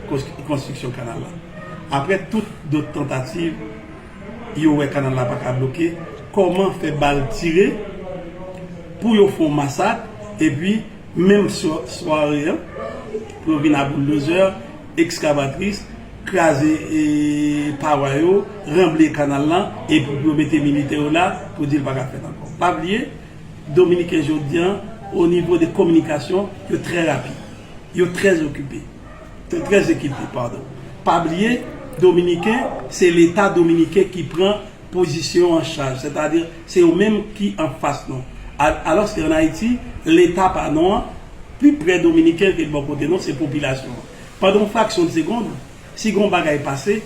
kont konstriksyon kanal la. Aprè tout dot tantativ, yo wè kanal la pa ka bloke, kòman fè bal tire pou yo fon masak epi menm sware an pou yo vin a bouldozè, ekskavatris, kraze pawa yo, ranble kanal la epi pou yo mete militè yo la pou di l pa ka fèt ankò. Pa bliye, Dominiken jodi an, onivo de kominikasyon, yo trè rapid. Yo très okipe. Très ekipe pardon. Pa bliye dominiken se leta dominiken ki pran pozisyon an chaj sètadi se yo menm ki anfas nou alòske an Ayiti leta pa nou an pi prè dominiken ke bò kote nou se popilasyon an. Pandan yon fraksyon de segond si gen yon bagay pase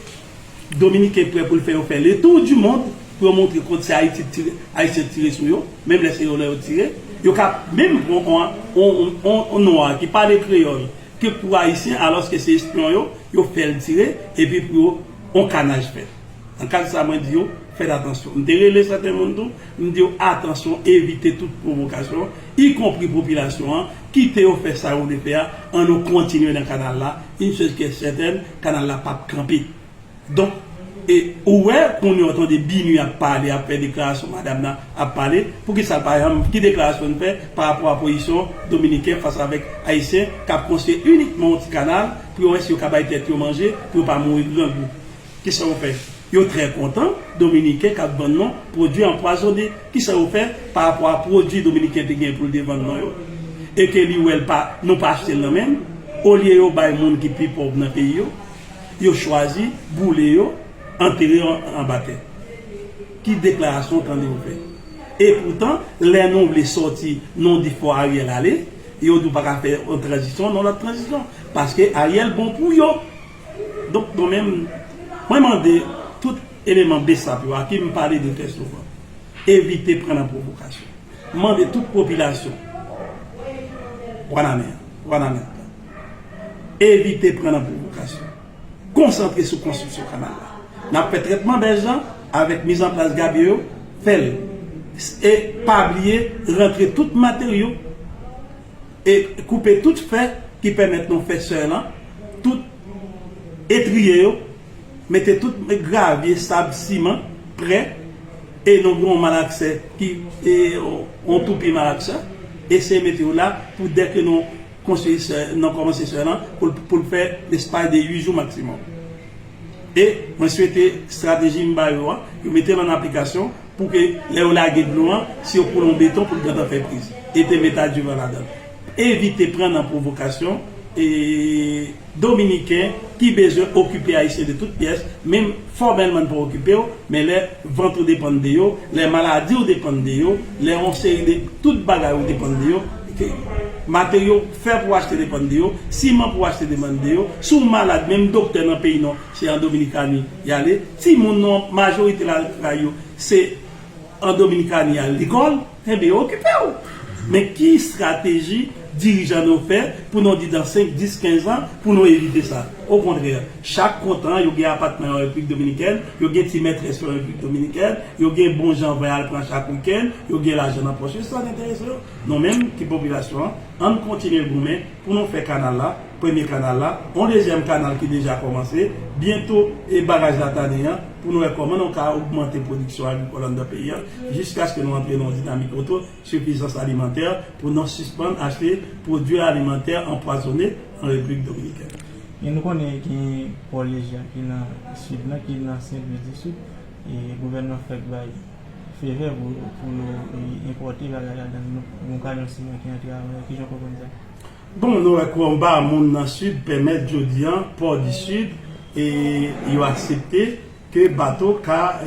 Dominiken prè pou l fè yo fè le tour du monde pou yo montre kont se Ayiti t tire, Ayisyen t tire sou yo, menm lè se yo lè yo tire. Yo ka menm pran on nwa ki pale kreyòl ke pou Ayisyen alòske se espyon yo, yo fè l tire epi pou yo on kanaj fèt. Nan kad sa mwen di yo fèt atansyon. M te rele sèten moun tou, m di yo atansyon evite tout pwovokasyon ikonpri popilasyon an, kite yo fè sa yo vle fè a, an nou kontinye nan kanal la, yn chez kè sètèn, Kanal la pap kanpe. Donk e ou wè kounye w tande Binuh ap pale, ap fè deklarasyon madam nan ap pale, poukisa l pa janm, ki deklarasyon li fè pa rapò a pozisyon dominiken fas avèk ayisyen k ap konstwi inikman yon ti kanal pou yo wè si yo ka bay tèt yo manje, pou yo pa mouri grangou. Ki sa yo fè? Yo trè kontan, Dominiken kap vann non pwodwi anpwazone, kisa yo fè pa rapò a pwodwi Dominiken te gen poul te vann non yo? E ke li wèl pa, nou pa achtel nan menl? Olye yo bay moun ki pi pòv nan peyi yo, yo chwazi boule yo, antere yo anba tè. Ki deklarasyon w tande yo fè? E poutan, lè nou vle sòti non di fò Ariel ale, yo di w paka fè yon tranzisyon non lòt tranzisyon, paske Ariel bon pou yo! Donk mwen menm, mwen mande tout eleman bsap yo a ki m pale de trè souvan, evite pran nan pwovokasyon. M mande tout popilasyon wanament, wanamentan, evite pran nan pwovokasyon. Konsantre sou konstriksyon kanal la. N ap fè trètman bèche lan avèk mizanplas gabye yo, fè l. E pa bliye rantre tout materyo. E koupe tout fè ki pèmèt nou fè sè lan, tout etriye yo, mete tout gravye, sab, siman prè e nou gen yon malaksè ki yon tou pi malaksè, eseye mete yo la pou dè ke nou konstwi sè, nou kòmanse sè lan pou l fè lespay de 8 jou maksimòm. E mwen swete strateji m ba yo an, yo mete l an aplikasyon pou ke lè yo lage dlo an, si yo koule yon beton pou l gentan fè priz. E te met adivan ladan l. Evite pran nan pwovokasyon e Dominiken ki bezwen okipe Ayisyen de tout pyès, menm fòmèlman n pa okipe w, men lè vant ou depann de yo, lè maladi w depann de yo, lè yon seri de tout bagay ou depann de yo, ke materyo. fè pou achte depann de yo, siman pou achte demann de yo, si w malad menm doktè nan peyi non se an Dominikani y ale, timoun non majorite lakay yo se an Dominikani y al lekòl, enben yo okipe w. Men ki estrateji dirijan nou fè pou nou di dan 5, 10, 15 an pou nou evite sa? Okontrè, chak kontan yo gen apatman an Repiblik Dominikèn, yo gen ti mètrès yo an Repiblik Dominikèn, yo gen bon jan vin al pran chak wikenn, yo gen lajan nan pòch yo, se sa k enterese yo. Nou menm ki popilasyon an, ann kontinye goumen pou nou fè kanal la, premye kanal la, on dezyèm kanal ki deja kòmanse, byento e baraj Latanin an, pou nou wè kòman nou ka ogmante pwodiksyon agrikòl anndan peyi an, jiskaske nou antre nan yon dinamik oto sifizans alimantè, pou nou sispann achte pwodui alimantè anpwazone an Repiblik Dominikèn. E nou konnen genyen Pòlejya ki nan Sid lan, ki nan Senlwis di Sid. Gouvènman fèk bay fevè pou yo enpòte bagay la dan yon kamyon siman ki antre avan yo. Kijan w konprann sa? Bon, nou wè konba moun nan Sid pèmèt jodi an Port du Sud yo aksepte ke bato ka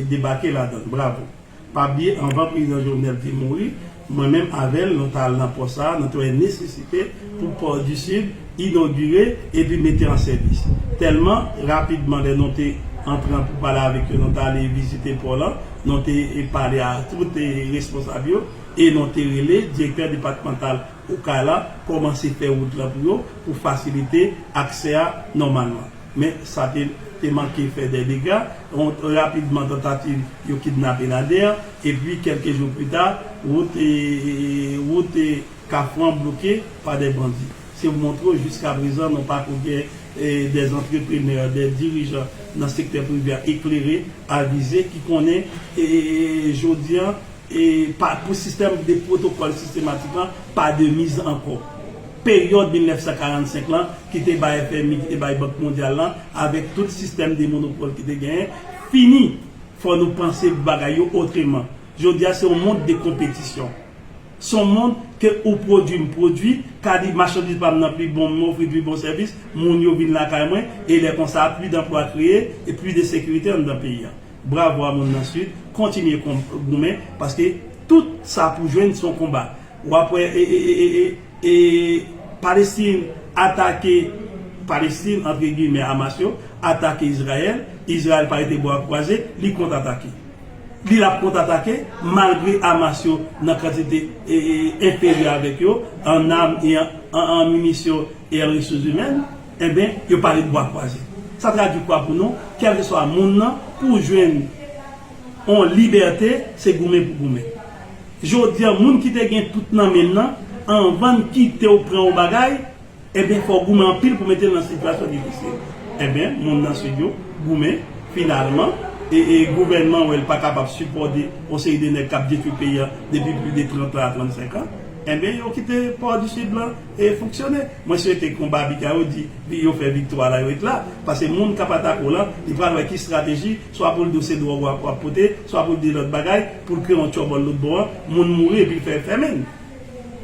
debake ladan. Bravo! Pa bliye anvan prezidan Jovenel te mouri, mwen menm avè l nou ta al nan pò sa a nou te wè nesesite pou pò di Sid inogire epi mete an sèvis. Tèlman rapidman lè nou te antre an poupale avèk yo nou te ale vizite pò lan, nou te pale a tout responsab yo e nou te rele direktè depatmantal Okay la kòmanse fè wout lan pou yo pou fasilite aksè a nòmalman. Men sa te te manke fè dè dega, rapidman tantativ yo kidnape Nader, epi kèlke jou pita, wout wout Kafou an bloke pa dè bandi. Se pou montre w jiska prezan nou pa ko gen dè antreprenè, dè dirijan nan sektè prive a eklere, avize ki konnen jodi an, pa pou sistèm de pwotokòl sistematik lan pa de miz ankò. Peryòd 1945 lan, ki te bay FMI, ki te bay Bank Mondyal lan, avèk tout sistèm de monopòl ki te genyen, fini. Fò nou panse bagay yo otreman. Jodi a, se yon mond de konpetisyon. Se yon mond ke ou pwodui, m pwodui, ka di machandiz pa m nan pi bon, m ofri pi bon sèvis, moun yo vin lakay mwen, e lè konsa, pli danplwa kreye, e pli de sekirite anndan peyi a. Bravo a moun nan sud kontinye goumen paske tout sa pou jwenn son konba wap wè e palestine atake palestine antre gimè amas yo atake izrayèl izrayèl pa rete bwa kwaze li kont atake li lap kont atake malgre amas yo nan kantite enferyè avèk yo an nam e an minisyon e an resous imèn. Enben, yo pa ret bwa kwaze. Sa tradui kwa pou nou? Kèlkeswa moun nan, pou w jwenn yon libète, se goumen pou goumen. Jodi a, moun ki te gen tout nan men l nan, anvan l kite w pran yon bagay, enben fò w goumen anpil pou mete l nan sitiyasyon difisil. Enben, moun nan Sid yo goumen, finalman, e gouvènman wè l pa kapab sipòte yon seri de nèg k ap detwi peyi a depi plis de 30 an a 35 an, enben yo kite Port du Sud lan. E fonksyone. Mwen swete konba Biga yo di li yo fè viktwa la yo et la. Pase moun kap atake w lan, li pral wè ki strateji, swa pou l di w se dwòg wap wap pote, swa pou l di lòt bagay, pou l kreye yon tyòbòl lòt bò an, moun mouri epi l fè fèmen.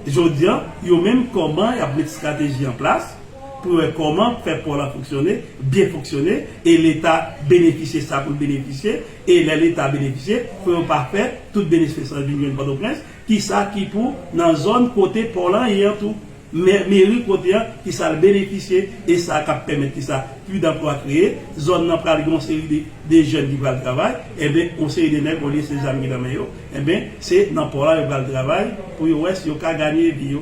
Jodi an, yo menm kòman yap met strateji an plas, pou yo wè kòman fè pò lan fonksyone, byen fonksyone, e leta benefisye sa pou l benefisye, e lè leta benefisye, pou yo pa fè tout benesfe sa vin jwenn Pòtoprens, Kisa ki pou nan zòn kote pò lan ye an tou? Meri kote an, kisa l benefisye e sa k ap pèmèt kisa? Pli danplwa kreye, zòn nan pral gen yon seri de de jèn ki pral travay, enben yon seri de nèg olye se zam ki nan men yo, enben se nan pò la yo pral travay pou yo wè si yo ka ganye vi yo.